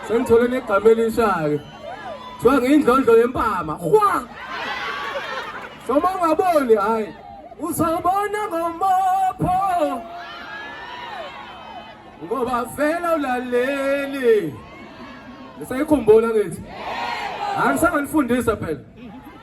sengithole negama elisha-ke kuthiwa ngiyindlondlo yempama hwa soma ungaboni hhayi uzobona ngomopho ngoba vela ulaleli ngisayikhumbula ngithi angisanganifundisa phela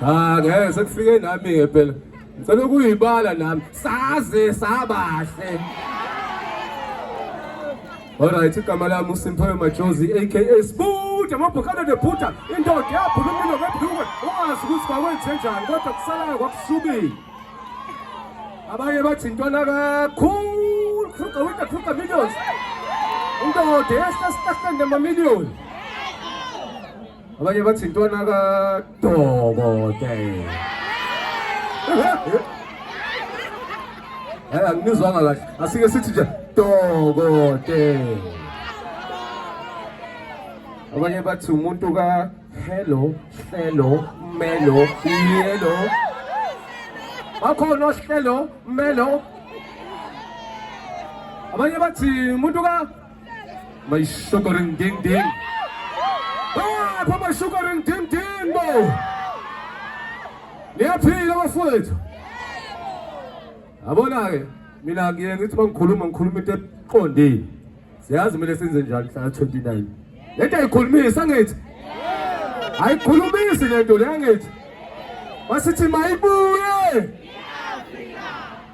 Cha ngeke sekufike nami ke phela. Ngicela ukuyibala nami. Saze sabahle. Alright, igama lami uSimphiwe Majozi aka Sbude amabhokana nebhuta indoda yaphuma impilo ngebhluke ungazi ukuthi kwakwenze njani kodwa kusalayo kwakusukile. Abanye bathi intwana kakhulu khruka wita khruka millions. Indoda yesitahlende mamillion. abanye bathi intwana kadokotela Eh angizwanga kahle. Asike sithi nje dokotela. Abanye bathi umuntu ka hello, hello, melo, yelo. Bakhona ohlelo, melo. Abanye bathi umuntu ka May sugar and ding ding. Ah, pa may sugar and ding ding mo. Niyaphila bafowethu. Yabona ke mina ngiye ngithi bangikhuluma ngikhuluma into eqondile. Siyazi mina senze njani mhla 29. Lento ayikhulumisa ngithi. Ayikhulumisi lento le ngithi. Wasithi mayibuye.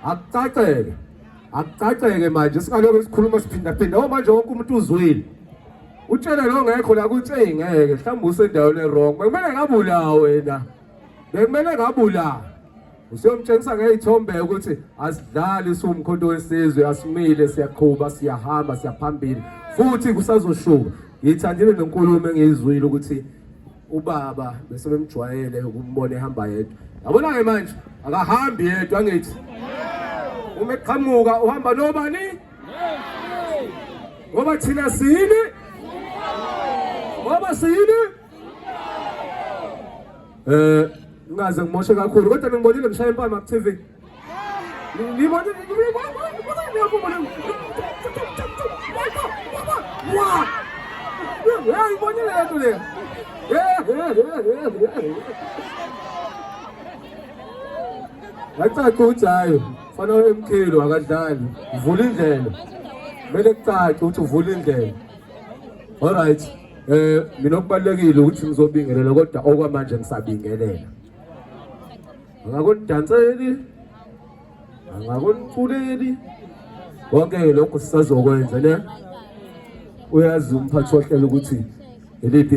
Akucacele. Akucaceke manje singalokho sikhuluma siphinda phinda ngoba manje wonke umuntu uzwile. Utshele lo ngekho la kuthi hey ngeke mhlawumbe usendaweni ewrong. Bekumele ngabulawa wena. Bekumele ngabulawa. Usiyomtshengisa ngeyithombe ukuthi asidlali siwumkhonto wesizwe asimile siyaqhuba siyahamba siyaphambili futhi kusazoshuba. Ngithandile nenkulumo engiyizwile ukuthi ubaba bese bemjwayele ukumbona ehamba yedwa yabona ke manje akahambi yedwa ngithi uma eqhamuka uhamba nobani ngoba thina siyini ngoba siyini eh ngaze ngimoshe kakhulu kodwa ningibonile ngishaya impama ku TV Yacaca ujayo fana emkhulu akadlali vula indlela kumele kucace ukuthi uvula indlela all right eh mina okubalekile ukuthi ngizobingelela kodwa okwamanje ngisabingelela angakunidanseli angakuniculeli konke-ke lokho sisazokwenza ne uyazi umphathi wohlelo ukuthi iliphi